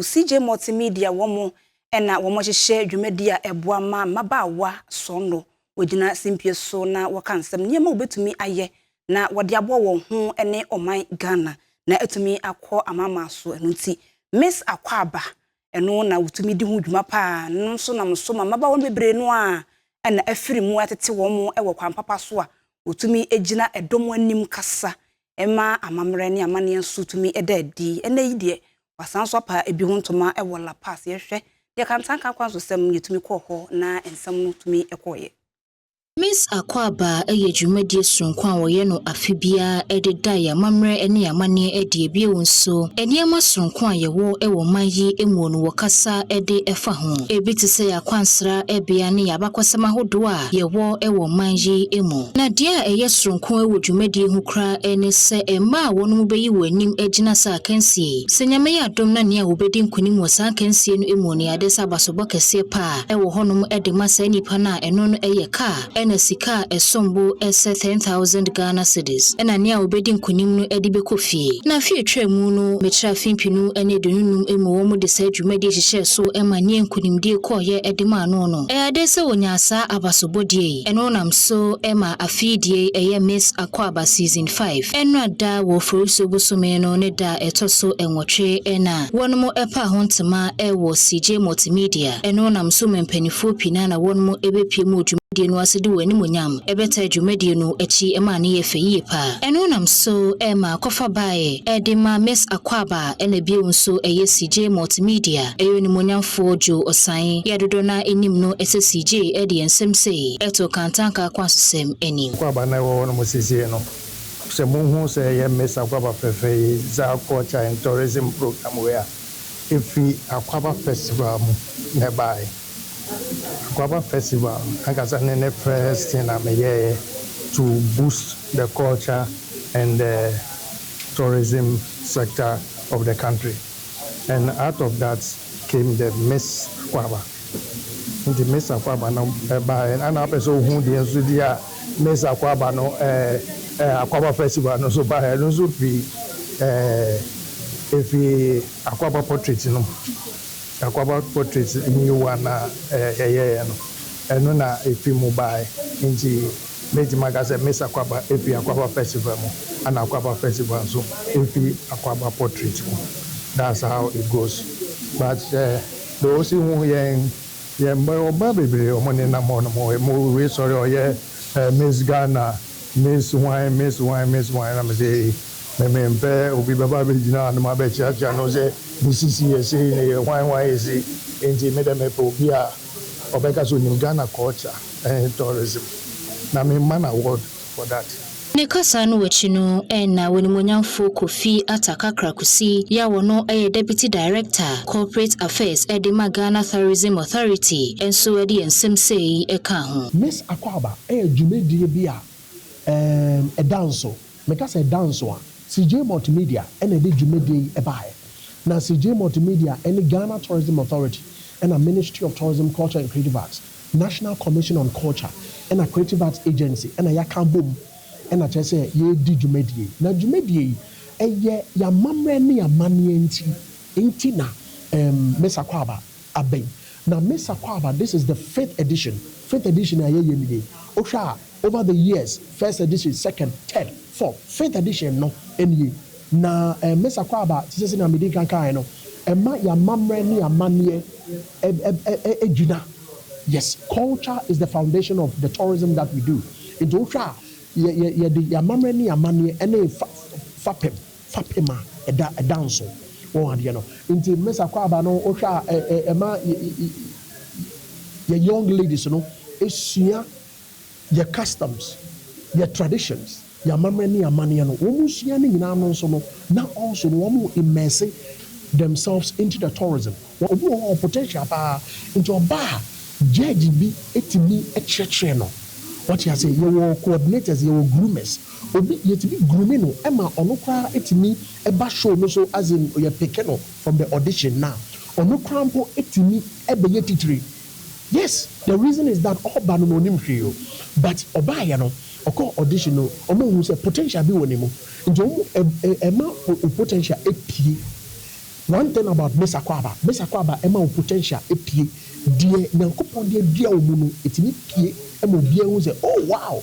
Ɔwofo CJ Multimedia wɔn na wɔhyehyɛ dwumadi a ɛboa ma mmabaawa sɔ no, wɔgyina simpie so na wɔka nsɛm, nneɛma a wɔbɛtumi ayɛ na wɔde aboa wɔn ho ne ɔman Ghana na atumi akɔ amanaman so. Ɛno nti Miss Akwaaba ɛno na wɔtumi di ho dwuma pa ara, ɛno nso nam so ma mmabaawa no bebree no ara na afiri mu atete wɔn wɔ kwan papa so a wɔtumi gyina dɔm anim kasa ɛma amammerɛ ne amanneɛ nso tumi da adi. Ɛnnɛ yi deɛ, wɔasan nso apa ebi ho ntoma wɔ La Paz. Yɛhwɛ deɛ Kantanka akwantusɛm yɛtumi kɔɔ hɔ na nsɛm no tumi kɔeɛ. Miss Akwaaba yɛ dwumadie sononko a wɔyɛ no afe biara de da yɛn amammerɛ ne yɛn amanneɛ adi. Bio nso, nneɛma sononko a yɛwɔ wɔ ɔman yi mu no wɔkasa de fa ho. Ebi te sɛ yɛn akwansra bea ne yɛn abakɔsɛm ahodoɔ a yɛwɔ wɔ ɔman yi mu. Na deɛ a ɛyɛ soronko wɔ dwumadie ho koraa ne sɛ mmaa a wɔnom bɛyi wɔn anim agyina saa akansie yi. Sɛ Nyame yɛ adom na nea wɔbɛdi nkonim wɔ saa akansie no mu no yɛ adeɛ sɛ abasobɔ kɛseɛ paa wɔ hɔnom de ma saa nnipa no a ɛno no yɛ car ɛna sika a ɛsom bo sɛ ten thousand Ghana cedis ɛna nea wɔbɛdi nkonim no de bɛkɔ fie. Na afe a ɛtwaa mu no mekyerɛ afe mpenu ne aduonu num mu wɔn de saa dwumadie hyehyɛɛ so ma nea nkonimdie kɔɔeɛ de maa no no. Ɛyɛade sɛ wɔnya saa abasobɔdeɛ yi, ɛno nam so ma afeedie yi ɛyɛ Maize Akwaaba Season Five. Ɛnora da wɔ Oforisuo bosome no ne da a ɛtɔ so nwɔtwe na wɔnom ɛpaa ho ntema wɔ CJ Multimedia. Ɛno nam so ma mpaninfoɔ pii no ara na wɔnom ɛbɛpiem wɔ dwumadie no ase de wɔn animuonyam ɛbɛtaa dwumadie no akyi ma ano yɛ fɛ yie paa. Ɛno nam so ma akɔfa baeɛ de ma Maize Akwaaba. Ɛna bio nso ɛyɛ CJ Multimedia, ɛyɛ onimuonyamfoɔ Joe Osae, yɛ a dodoɔ no ara nim no sɛ CJ, ɛde yɛn nsɛm sei to Kantanka akwansosɛm anim. Akwaaba no a ɛwɔ hɔnom seesei no, sɛ mohu sɛ ɛyɛ Miss Akwaaba Fɛfɛ yi za Culture and Tourism Programme wei a, ɛfiri Akwaaba Festival mu na ɛbaeɛ. Akwaaba Festival ankasa ne ne first thing a meyɛeɛ to boost the culture and the. tourism sector of the country and out of that came the Miss Akwaaba nti Miss Akwaaba no baeɛ na na apɛ sɛ ɔhu deɛ nso di a Miss Akwaaba no ɛɛ ɛɛ Akwaaba festival no nso baeɛ ɛno nso firi ɛɛ efi Akwaaba portrait no Akwaaba portrait new one a ɛɛ yɛyɛɛ no ɛno na efi mu baeɛ nti Mɛtumi aka sɛ Miss Akwaba firi Akwaba Festival mu ɛna Akwaba Festival nso firi Akwaba Portrait mu. That's how it goes. But sɛ deɛ ɔsi hu yɛn, yɛn mma bebree a wɔnenam hɔ nom, ɛmu wei sɔre a ɔyɛ Miss Ghana, Miss hwan, Miss hwan, Miss hwan, na mesɛ ei, me mempɛ obi bɛba abɛgyina hanom abɛkyeakyea no sɛ ne sisi yɛ sei, ne yɛ hwan hwan yɛ sei, enti me deɛ mepɛ obi a, Ɔbɛka sɛ onim Ghana culture ɛɛn tourism na me mma no award for that. Ne kasa no akyi no na w'animuonyamfo Kofi Atta Kakra Kusi yi a ɔno yɛ Deputy Director, Corporate Affairs de ma Ghana Thourism Authority nso de yɛn nsɛm sei kaa ho. Miss Akwaaba yɛ dwumadie bi a ɛɛn ɛda nso. Meka sɛ da nso a, CJ Multimedia na ɛde dwumadie yi baeɛ. Na CJ Multimedia ne Ghana Tourism Authority ɛna Ministry of Tourism, Culture and Creative Arts, National Commission on Culture ɛna Creative Arts Agency na yɛaka abom na kyerɛ sɛ yɛredi dwumadie yi. Na dwumadie yi, ɛyɛ yɛn amammerɛ ne yɛn amanneɛ nti nti na ɛɛm Miss Akwaaba Abɛn na Mesa kɔ aba this is the fifth edition fifth edition a yɛyɛ mu nie wohwɛ a over the years first edition second third fourth fifth edition no nie na eh Mesa kɔ aba te sɛ sɛnea medi nkan kaeɛ no ɛma yɛn amammerɛ ne yɛn amanneɛ ɛ ɛ gyina yes culture is the foundation of the tourism that we do nti wohwɛ a yɛ yɛ yɛde yɛn amammerɛ ne yɛn amanneɛ ne yɛn fa fapem fapem a ɛda ɛda nso wɔn adeɛ no nti Miss Akwaaba no wo hwɛ a ɛ ɛ ɛma yɛ yɛ yɛ young ladies no sua yɛ customs yɛ traditions yɛ amammerɛ ne amaneɛ no wɔn sua ne nyinaa no nso no na also no wɔn immerse themselves into the tourism. Wɔ obi wɔ hɔ ɔwɔ potential paa nti ɔba a judge bi tumi kyerɛkyerɛ no wate aseɛ yɛwɔ coordinators yɛwɔ groomers obi yɛtumi groom no ma ɔno koraa tumi ba show no so as in yɛ pick no from the audition na ɔno koraa mpo tumi bɛyɛ titire yes the reason is that ɔba no na ɔnim hwee o but ɔbaeɛ no ɔkɔɔ audition no ɔmo hu sɛ potential bi wɔ ne mu nti ɔmo ɛma wo potential pie One thing about Miss Akwaaba, Miss Akwaaba ɛma wo potential ɛpie, deɛ Nyankopɔn de adua wo mu no ɛtumi pie ma obiara hu sɛ oh wow!